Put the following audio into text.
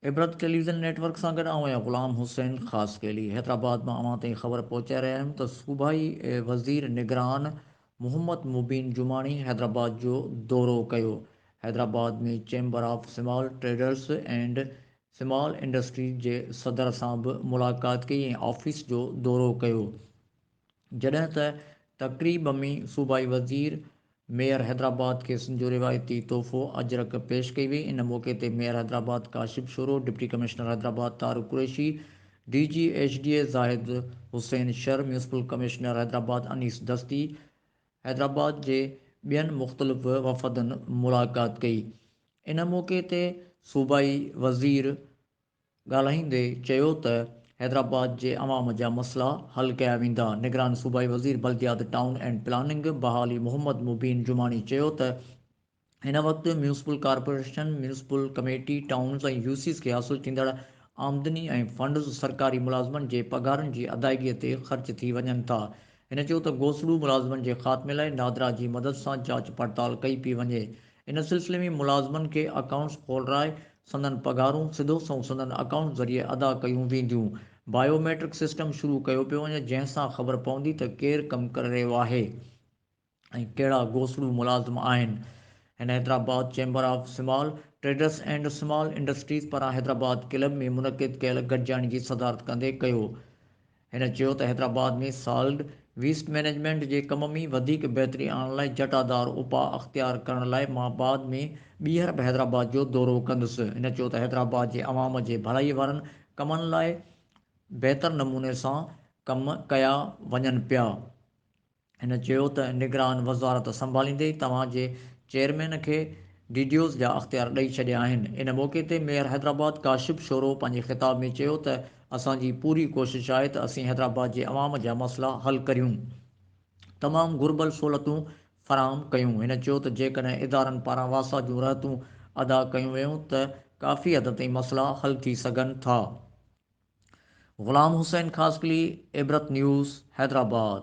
عبرت television network سان گڏ آئون آهيان غلام حسين خاصخيلي حيدرآباد مان اوهان تائين خبر پهچائي رهيا آهيون ته صوبائي وزير نگران محمد مبين جماڻي حيدرآباد جو دورو ڪيو Hyderabad ۾ chamber of small traders and small industries جي صدر سان به ملاقات ڪئي ۽ آفيس جو دورو ڪيو جڏهن ته تقريب ۾ صوبائي وزير ميئر حيدرآباد کي سن جو روايتي تحفو اجرڪ پيش ڪئي وئي ان موقعي تي mayor Hyderabad Kashif Shoro, deputy commissioner Hyderabad Tariq Qureshi, D G H D A Zahid Hussain Shar, municipal commissioner Hyderabad Anees Dasti, Hyderabad جي ٻين مختلف وفدن ملاقات ڪئي. ان موقعي تي صوبائي وزير ڳالهائيندي چيو ته حيدرآباد جي عوام جا مسئلا حل ڪيا ويندا. نگران صوبائي وزير بلديات، ٽائون اينڊ پلاننگ بحالي محمد مبين جماڻي چيو ته هن وقت municipal corporation, municipal committee, towns ۽ U Cs کي حاصل ٿيندڙ آمدني ۽ فنڊز سرڪاري ملازمن جي پگهارن جي ادائيگي تي خرچ ٿي وڃن ٿا. هن چيو ته گوسڙو ملازمن جي خاتمي لاء نادرا جي مدد سان جاچ پڙتال ڪئي پئي وڃي. ان سلسلي ۾ ملازمن کي اڪائونٽس کولرائي سندن پگهارون سڌو سنئون سندن اڪائونٽس ذريعي ادا ڪيون وينديون. بايو ميٽرڪ سسٽم شروع ڪيو پيو وڃي جنهن سان خبر پوندي ته ڪير ڪم ڪري رهيو آهي. ۽ ڪهڙا گوسڙون ملازم آهن. هن Hyderabad chamber of small traders and small industries پاران حيدرآباد ڪلب ۾ منعقد ڪيل گڏجاڻي جي صدارت ڪندي ڪيو. هن چيو ته حيدرآباد ۾ سالڊ ويسٽ مئنيجمينٽ جي ڪم ۾ وڌيڪ بهتري آڻڻ لاء جٽادار اپاء اختيار ڪرڻ لاء مان بعد ۾ ٻيهر به حيدرآباد جو دورو ڪندس. هن چيو ته حيدرآباد جي عوام جي ڀلائي وارن ڪمن لاء بهتر نموني سان ڪم ڪيا وڃن پيا. هن چيو ته نگران وزارت سنڀاليندي ئي توهان جي چيئرمين کي ڊي ڊي اوز جا اختيار ڏئي ڇڏيا آهن. ان موقعي تي ميئر حيدرآباد ڪاشف شورو پنهنجي خطاب ۾ چيو ته اسان جي پوري ڪوشش آهي ته اسين حيدرآباد جي عوام جا مسئلا حل ڪريون تمام گهربل سهولتون فراهم ڪيون. هن چيو ته جيڪڏهن ادارن پاران واسا جون رهتون ادا ڪيون ويون ته ڪافي حد تائين مسئلا حل ٿي سگهن ٿا. غلام حسين خاصخيلي، عبرت نيوز، حيدرآباد.